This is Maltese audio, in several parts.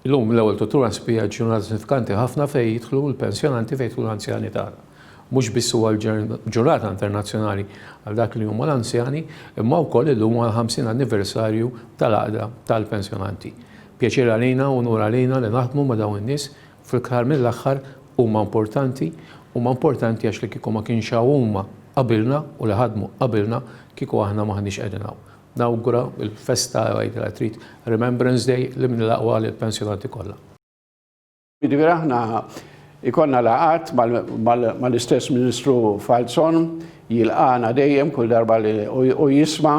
Illum, l-ewwel tutur għan spija ġie ġurnata sinifikanti ħafna fejn jidħlu l-pensjonanti fejn jidħlu l-anzjani tagħna. Mhux biss huwa l-ġurnata internazzjonali għal dak li huma l-anzjani, imma wkoll illum huwa l-ħamsin anniversarju tal-Għaqda tal-Pensjonanti. Pjaċir għalina u unur għalina li naħdmu ma' dawn in-nies, fl-aħħar mill-aħħar huma importanti, huma importanti għax li kieku ma kienx hawn huma qabilna u li ħadmu qabilna, kieku aħna m'aħniex qegħdin hawn. Nawgura l-festa għid la trid Remembrance Day li minn l-aqwa lil pensjonanti kollha. Jiġifieri aħna jkollna laqgħat mal-istess Ministru Falzon, jilqagħna dejjem kull darba li u jisma'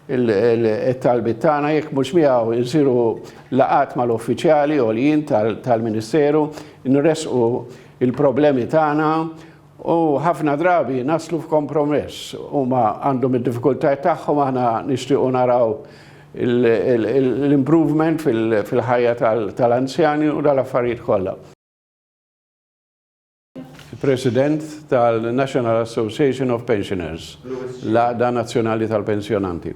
t-talbiet tagħna, jekk mhux miegħu nsiru laqgħat mal-uffiċjali għoljin tal-Ministeru, nressqu l-problemi tagħna, U ħafna drabi naslu f'kompromess. Huma għandhom id-diffikultajiet tagħhom, aħna nixtiequ naraw l-improvement fil-ħajja tal-anzjani u dal-affarijiet kollha. President tal-National Association of Pensioners, l-Għaqda Nazzjonali tal-Pensjonanti.